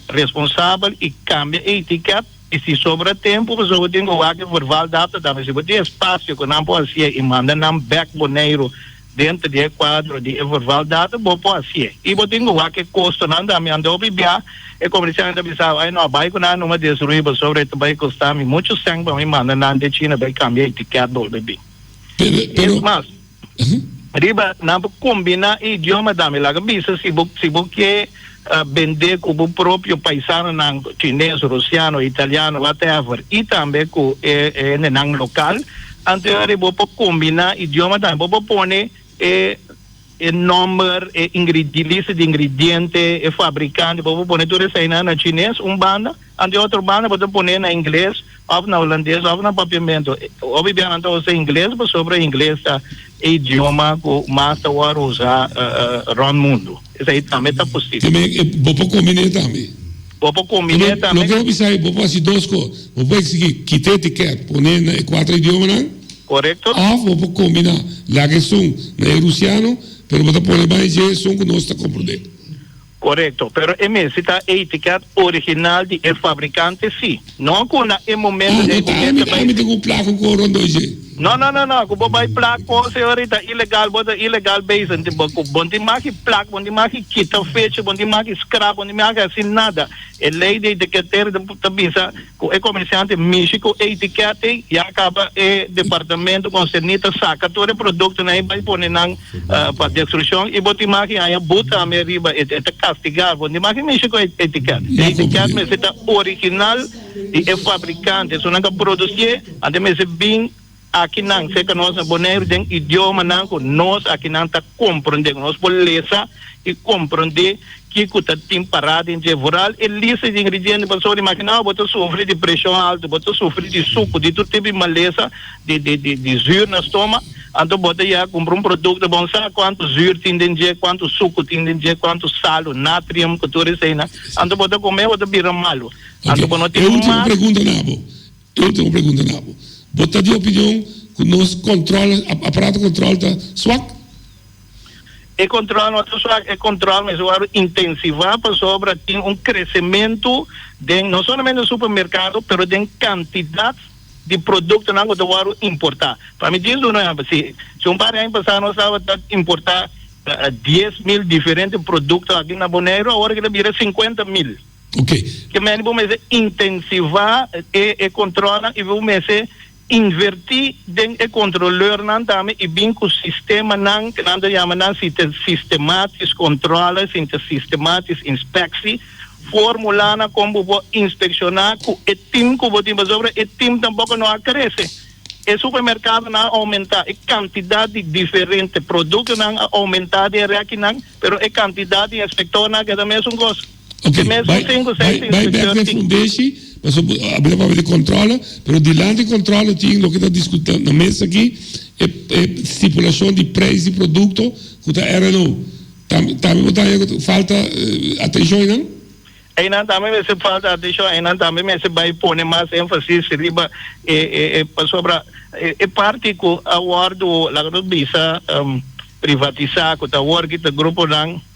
responsabel i kambia e etiket i si sobra tempu bo zoho tin ku wak e verbal data dame si bo tin espasio ku nan por hasi'e i manda nan bek Boneiru denter di e kuadro di e verbal data bo por hasi'e i bo tin ku wak e kostonan dame ando bibia e komersiantenan ta bisa bo no a bai ku nan numa destruí bo sobra e ta bai kosta mi muchu sèn pa mi manda nan den China bai kambia e etiket bolbe bin. Es mas. Riba nan por combina e idioma tambe. Laga bisa si bo si bo ke bende cu bo propio paisanonan chines, rusiano, italiano, whatever, y tambe cu e e hendenan local, anto hori bo por combina e idioma tambe. Bo por pone e e nomber, e ingre lista di ingrediente, e fabricante, bo por pone tur esainan na chines un banda, Anto e otro banda bo ta pone na ingles of na holandes of na papiamento. Hopi bia nan ta usa ingles pasobra ingles ta e idioma cu mas ta wor usa rond mundo. Esai tambe ta posibel. Tambe bo por combine tambe. Bo por combine tambe. Loke hopi sai bo por haci dos cos. Bo por exigi kita etiquet pone na e cuatro idiomanan. Corecto. Of bo por combina laga esun na e rusiano pero bo ta pone ban e dje esun cu nos ta comprende. Korekto, pero e mester ta e etiket original di e fabrikante si no ku na e momento den ku men ta bai. Ami ta ku plak ku kor rond oye. No no no no ku bo bai plak kos e ora i ta ilegal bo ta ilegal bezig ku bo tin maki plak bo tin maki kita fecha bo tin maki skrap bo tin maki hasi nada e lei di etiketer ta bisa. Cu e comerciante mishi cu e etiquet ey ya caba e departamento concerni ta saca tur e productonan ey bay pone nan pa destruccion y bo tin maki haya boet tambe riba e ta castiga bo tin maki mishi cu e etiquet. E etiquet mester ta original di e fabricante so nan ta producie ante mester bin Akinan serka nos na Boneiru den idiomanan ku nos akinan ta komprondé, ku nos por lesa i komprondé kiko ta tin pará den dje voral. E lista di ingrediente pasobra imaginá bo bo ta sufri di preshon altu, bo ta sufri di suku, di tur tipo di malesa, di di di di zür na stomak, anto bo ta yega kumpra un produkto bon sa kuantu zür tin den dje, kuantu suku tin den dje, kuantu sal o natrium ku tur eseinan, anto bo ta kom'é bo ta bira malu. Ok, e ultimo pregunta na bo. Tur tur pregunta na bo. Bo ta di opinion cu nos control, aparato control ta swak? E control no ta swak, e control mes a worde intensiva pasobra tin un crecemento den no solamente den supermercado pero den cantidad di productonan cu ta worde importa. Pa mi tin duna un ehempel, si si un par di aña pasa nos tabata importa dies mil diferente producto aki na Boneiru awor eki ta bira cincuenta mil. Ok. Ke mende bo mester intensivá e controlnan y bo mester invertí den e controleurnan tambe y bin cu sistemanan ke nan ta yama nan sistematisch controle, sistematisch inspectie, formulanan con bo por inspeccioná cu e team cu bo tin pasobra e team tampoco no a crece. E supermercadonan a aumentá, e cantidad di diferente productonan a aumentá di e rekinan pero e cantidad di inspectornan a keda mesun cos. Oke, bai bai bek den fundeshi, pasobra bo a habla pasobra di controla, pero dilanti di controla tin loke ta discutá na mesa aki, e e stipulacion di prijs di producto cu ta RNO, tambe bo ta haña cu falta atencion einan? Einan tambe mester falta atencion, einan tambe mester bai pone mas enfasis riba e e e pasobra e e parti cu a wordo laga nos bisa privatisá cu ta awor kita gruponan.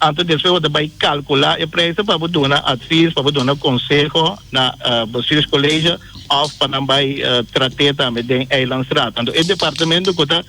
Antes di esei bo ta bai calcula e prijzen pa bo duna advies, pa bo duna conseho na Bestuurscollege of pa nan bai trate tambe den Eilandsraad. Anto e departamento cu ta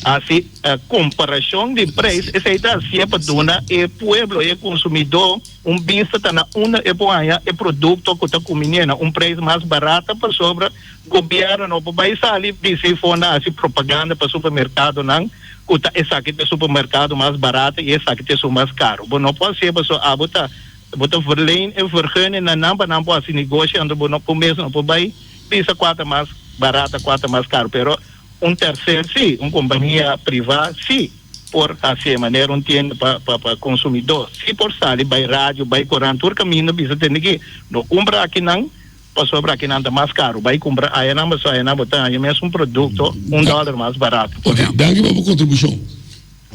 haci comparacion di prijs esei ta hacié pa duna e pueblo, e consumidor un bista ta na unda e por haya e producto cu ta cuminé na un prijs mas barato pasobra Gobierno no por bai sali bisti for na haci propaganda pa supermercadonan. cu ta esaki ta supermercado mas barato y esaki ta esun mas caro. Bo no por haci'e pasobra abo ta bo ta verleen e vergunning na nan pa nan por haci negoshi anto bo no cumes no por bay bisa cua ta mas barato a cua ta mas caro. Pero un tercer si, un compania priva si por haci'e manera un tienda pa pa pa consumidor si por sali bay radio, bay coran tur caminda bisa tende ki no cumpra aki nan. Pasobra aki nan ta mas karu. Bai kumpra ayanan pasobra ayanan bo ta haña mes un produkto un dòler mas barat, por ehèmpel. Danki pa bo kontribushon.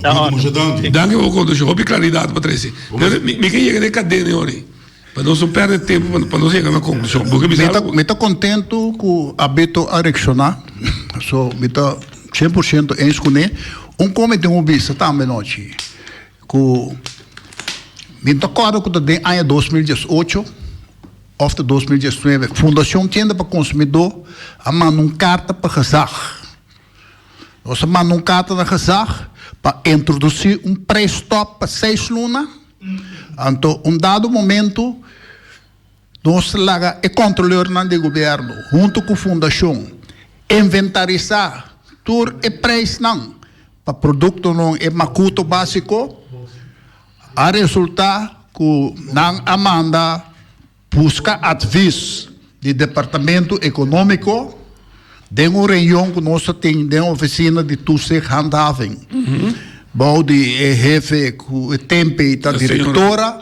Ta òrdu. Danki pa bo kontribushon. Hopi klaridat bo trese. Pero mi ke yega den e kadena ei horin. Pa nos no pèrdè tempu pa nos yega na konklushon. Bo ke bisa algu? Mi ta kontentu ku Abito a reakshoná. So, mi ta shen por shento ensj kuné. Un kon mi tin un bista tambe anochi, ku mi ta kòrda ku ta den aña dos mil dies ocho, Òf ta dos mil diesnuebe, Fundashon Kende pa Konsumidó a manda un karta pa Gezag. Nos a manda un karta na Gezag pa introdusí un preistòp pa seis luna, anto un dado momentu nos ta laga e kòntroleurnan di gobièrnu huntu ku Fundashon inventarisá tur e preisnan pa produktonan, e makuto básiko. A resulta cu nan a manda busca advis di Departamento Economico den un reunion cu nos a tin den Oficina di Toezicht Handhaving bou di e hefe cu e tempe ta directora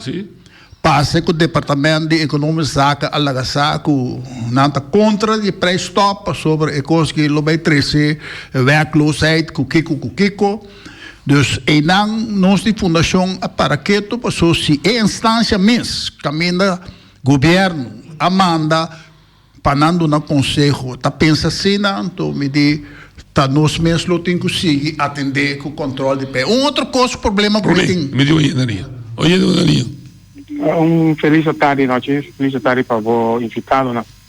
pasa cu Departamento di Economische Zaken a laga sa cu nan ta contra di e prijs stop pasobra e cos aki lo bay trece werkloosheid cu kico cu kico. Dus einan nos di fundashon a para ketu paso si e enstansia mes kaminda gobièrnu a manda pa nan duna konseho ta pensa asina anto mi di ta nos mes lo tin ku sigui atendé ku kòntròl di pè. Un otro kos problema ku mi tin. Mi di oye na riba. Oye na riba. Un felis atard i nochi. Felis atard pa bo invitado nan.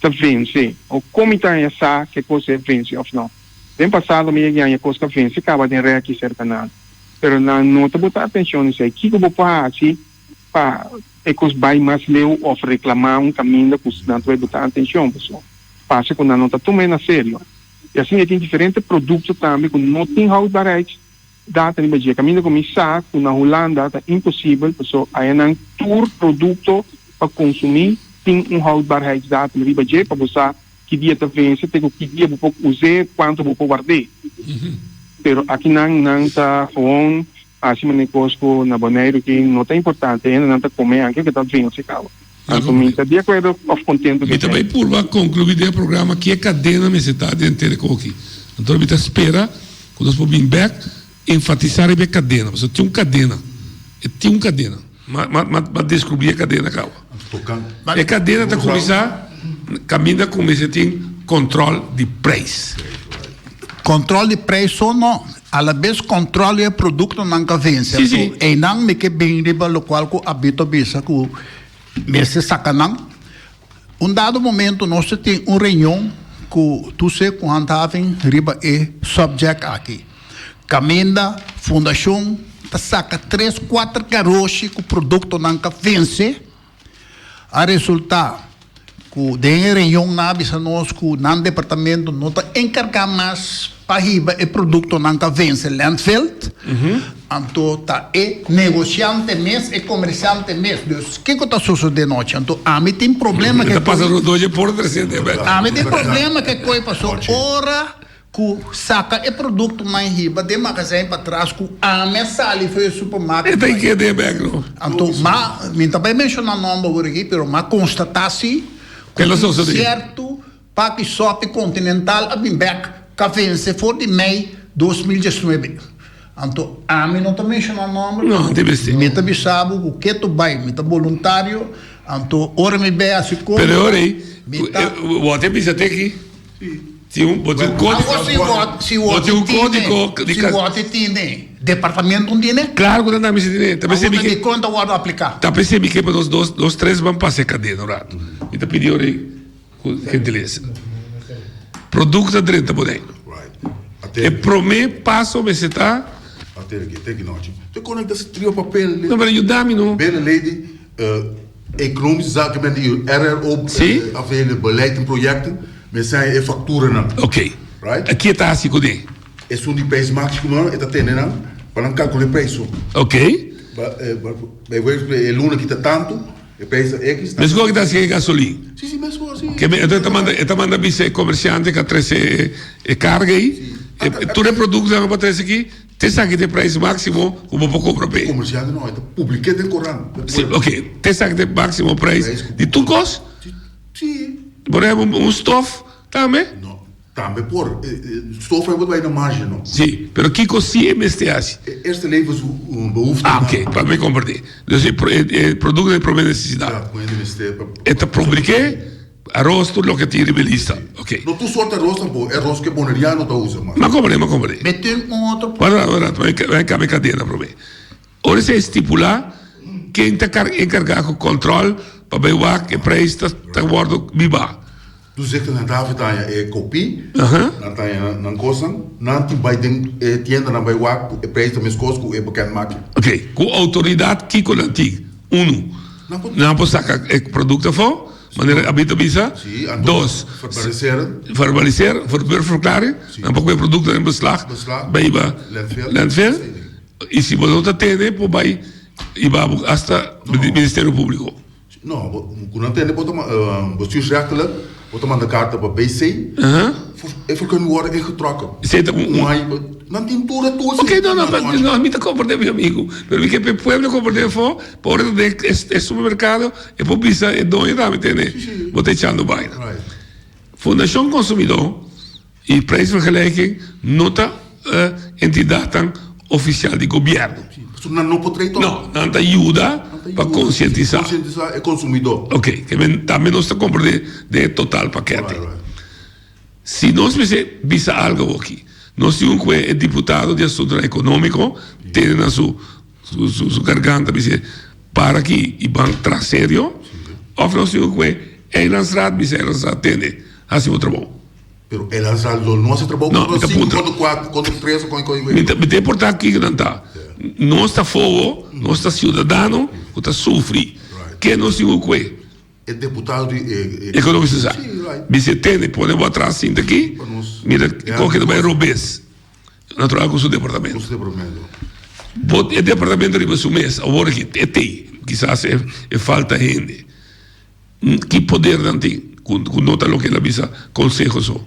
ta vense o komi ta haña sa ke kos e vense òf no. Den pasado mi a yaña kos ta vense kaba den rèki serka nan. Pero nan no ta botá atenshon di esei. Kiko bo por hasi pa e kos bai mas leu òf reklamá un kaminda ku nan ta bai botá atenshon? Paso pasa ku nan no ta tuma e na serio. I asin e tin diferente produkto tambe ku no tin houdbaarheid Data riba dje. Caminda cu mi sa cu na Hulanda ta imposibel paso ayanan tur producto pa consumi tin un houdbaarheidsdatum riba dje pa bo sa ki dia ta vense te cu ki dia bo por us'e of cuanto bo por ward'e. Pero akinan nan ta gewoon haci manera cos cu na Boneiru aki no ta importante hende nan ta come aki lo ke ta vense caba. Anto mi ta di akuerdo of kontentu ku e tempo. Mi ta bai purba konkluí den e programa ke kadena mester ta den te rekogi. Anto mi ta spera ku nos por bin bèk enfatisá riba e kadena, pasobra tin un kadena, e tin un kadena. M'a deskubrì e kadena kawa. E kadena ta kuminsá kaminda ku mester tin kòntròl di preis. Control di prijso no, alabes control di e producto nan ca vense a su eynan mi ke bin riba locual cu Abito bisa cu mester saca nan. Un dado momento nos ta tin un reunion cu Tuse cu Handhaving riba e subject aki, caminda Fundacion ta saca tres cuater caroshi cu productonan ca vense, A resultá ku den e reunionnan a bisa nos ku nan departamento no ta enkargá mas pa hiba e produktonan ku a vense Lentvel, anto ta e negosiante mes, e komersiante mes. Dus kiko ta sosodé nochi? Anto ami tin problema ke koe. Ami tin problema ke koe paso ora. ku saka e produkto mai hiba den magazijn patras ku ami a sali for e supermarket. E ta i keda e bek lo. Anto m'a, mi ta bai menshona nòmber awor aki, pero m'a konstatá si ku tin sierto papia sòpi Continental a bin bek k'a vense for di mei dos mil diesnuebe. Anto ami no ta menshona nòmber, pero mi ta bisa bo ku ke to bai, mi ta boluntario, anto ora mi bai hasi kompra, mi ta. Wòrdu e bisa te aki. Bo tin un kódigo. Awo si wòrdu, si wòrdu tine, si wòrdu tine, departamento no tine? Klaro ku ta nambe si tine. Awo ta di kon ta wòrdu apliká? Ta p'esei mi ke pa nos dos, nos tres ban pas'e kadena un ratu. Mi ta pidi orí ku gentilesa. Produkto ta drenta Bodega. E promé paso mester ta. Aterki, aterki nòchi. Te konekta si trio papel. No, pero yuda mi no. Bela lady. Economische Zaken men di RRO aveen e beleid en projecten, men sen e facturanan. Ok. Right? Ki e ta haci cu ne? Esun di prijs maximo e ta tene nan pa nan calcula e prijs su. Ok. Bijvoorbeeld e luna kita tantu, e prijs ta X. Mescor ki ta haci e gasolin? Si, si, mescor, si. Ke men e ta manda bisa e comerciante ca trece e carga ei? Tur e productonan cu a trece aki? T'esaki t'e prijs máksimo ku bo por kompra p'e? Komersiant di nos ta publiké den korant. Sí, ok. T'esaki t'e máksimo prijs di tur kos? Sí. Bo ta heba un stòf tambe? No. Tambe por. Stòf heba ta bai na marge, no. Sí, pero kiko sí e mester hasi? E eerste levensbehoeften. Ah, ok. Pa me kompra t'e. Dus e produkto di e promé nesesidat. Promé mester. E ta publiké. Aros tur loke tin riba e lista, ok. No tur sort aros tampoco, e aros cu e Boneriano ta usa mas. Macomore, macomore. Be tin un otro punto. Wacht, wacht, wacht, wacht, bai cambia cadena probe. Ora esei stipula ken ta car encarga cu control pa bai wak e prijs ta ta wordo biba. Dus e nan ta afecta aña e copi, nan ta aña nan cosnan, nan tin bai den e tiendanan bai wak cu e prijs ta mescos cu e beken maki. Ok, cu autoridad kico nan tin? Uno, nan por saca e producto afo. Manera Abby ta bisa, dos, verbaliseer, verber verklaring, nan pa kue produktonan den beslag, beiba landfill, i si bo no ta tene por bai i ba bo hasta Ministerio Publico. No, bo ku no tene bo ta bestuursrechtelijk, bo ta manda karta pa BC, e vergunning worde ingetrokken. Esei ta un hai, nan tin tur e tur esei. Ok, no, no, mi ta komprende mi amigu, pero mi ke pe pueblo komprende afo. Por e ta den e supermerkado e por bisa e doño tambe tene bo ta echando baina fundashon konsumidó i preis fo gelijking no ta entidatnan ofisial di gobièrnu pasobra nan no por trae tòg no nan ta yuda pa konsientisá e konsumidó oke tambe nos ta kompra den e total pakèt Si nos mester bisa algo aki, nos tin un kue e diputado di asuntunan economico tene na su garganta bis'e para aki y ban tra serio of nos tin un kue Eilandsraad bisa Eilandsraad tene haci bo trabou. Pero Eilandsraad lo no haci trabou con nos sinku, con nos kuater, con nos tres, con nos wei. Mi ta importa kiko nan ta, nos ta fobo, nos ta ciudadano cu ta sufri, ke nos tin un kue. E ekonomista sa. Mi si e tene pone bo atras sinta aki mira kon ke ta bai robes natural ku su departamento bo e departamento riba su mes awor aki e tin kisas e falta hende ki poder nan tin ku no ta loke el a bisa konseho so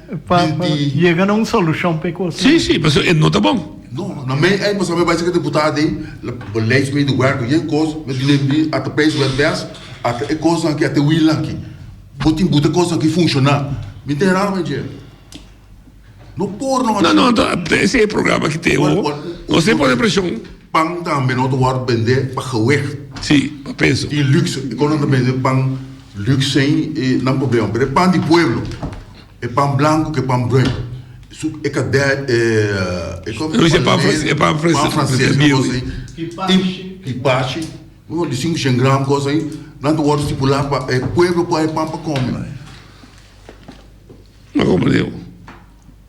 Pa yega na un solucion pa e cos. Sí, sí, pasobra e no ta bon. No, na mei ei mos bai seki deputado dei, beleid mei di werk yen cos, mi ta lembra di at pace wet bes, at e cosnan aki, at e wheel nan aki, bo tin buta e cosnan aki funciona, mi ta hera mei dje, no por no haci. No, no, esei e programa aki ta e ho, nos tin pone presion. Pan tambe no ta wòrdu bendé pa geweg. Sí, pa peso. I lux, i kon nan ta bende pan lux ei, e nan problema. Pero e pan di pueblo, e pan blanku ku e pan bruin, su e kade, e, e kon nan ta pala lei, pan franses e kos ei, i pashi, oh, di sinku shen gram kos ei, nan ta wòrdu stipulá pa e pueblo por e pan pa kome. Lo komprende bo?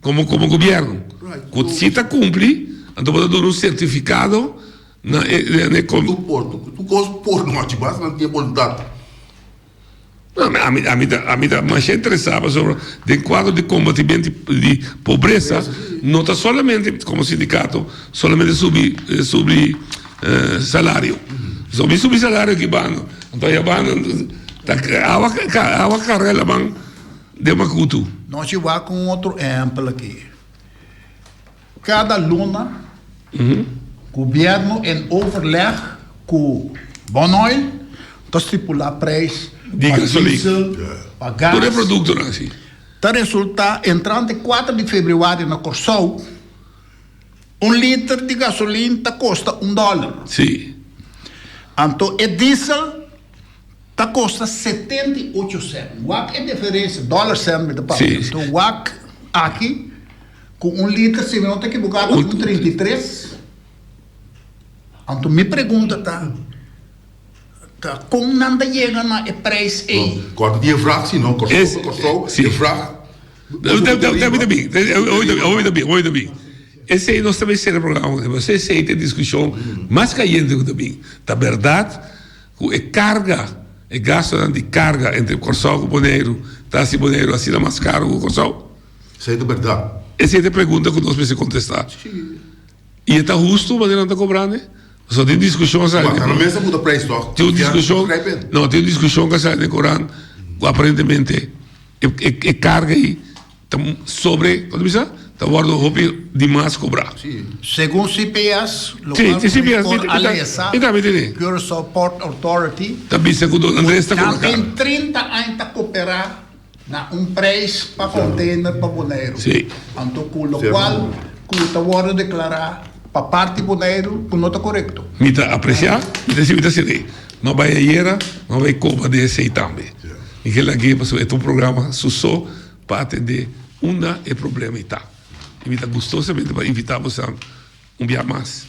Komo komo gobièrnu, ku si ta kumpli, anto bo ta duna un sertifikado na e. Tur portu, ku tur kos por no haci, basta nan tin e boluntat. Ami ta ami ta masha interesá pasobra den kuadro di kombatimentu di pobresa no ta solamente komo sindikato solamente subi subi salario pasobra mi subi salario aki banda anto ya banda ta awa awa karela man. Den Makutu. Nos ciba cu un otro ehempel aki. Cada luna gobierno en overleg cu Bonoil ta stipula prijs pa diesel, pa gas. Tur e productonan si. Ta resulta entrante cuater di februari na Corsou un liter di gasolin ta costa un dollar. Si. Anto e diesel Ta kosta setenta i ocho sènt. Wak e diferensia, dòler sènt mi ta pasa. Anto wak aki ku un liter, si mi no ta ekiboká, ta un trinta i tres. Anto mi pregunta ta, ta kon nan ta yega na e preis ei? Kòrta di e vrag, si no Kòrsou ta Kòrsou, e vrag ta subi ta riba, ta subi ta riba. Obi ta mi, esei nos ta mester sera programa un dia, pasobra esei ta e diskushon mas kayente ku ta bin. Ta bèrdat. Cu e carga, e gastonan di carga entre Corsou cu Boneiru ta haci Boneiru asina mas caro cu Corsou? Esey ta berdad. Esey ta pregunta cu nos mester contesta. Y e ta husto manera nan ta cobrane? Pasobra tin un discusion cu sali. Matanan mes ta muda prijs toch? Tin un discusion. Confianza ta cray been. No, tin un discusion cu a sali den corant cu aparentemente e carga ey. Ta sobre, kos ta bisa? Ta wòrdu hopi di mas kobrá. Sí, segun CPS, lo Si, kual si CPS, mi por mi ta mi alesa ta mi ta di. Curaçao Port Authority, Ta bisa ku Don Andrés ta kobra karo. Camping trinta aña ta koperá na un preis pa konteiner pa Boneiru. Sí. Anto ku lo kual ku ta wòrdu deklará pa parti Boneiru ku no ta korekto. Mi ta apresiá, mi ta si mi ta sende. M'a bai ayera, m'a bai kobra di esei tambe. Mi ke lag'é pasobra e ta un programa su so. pa atendé unda e problema i ta. I mi ta gustosamente pa invitá bosan un biaha mas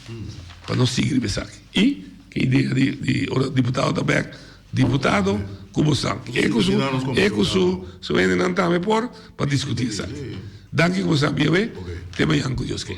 pa nos sigui riba esaki. I e idea di di ora diputado ta bèk, diputado ku bosan e ku su e ku su su hendenan tambe por pa diskutí esaki. Danki ku bosan a bia awé, te mañan ku Dios kei.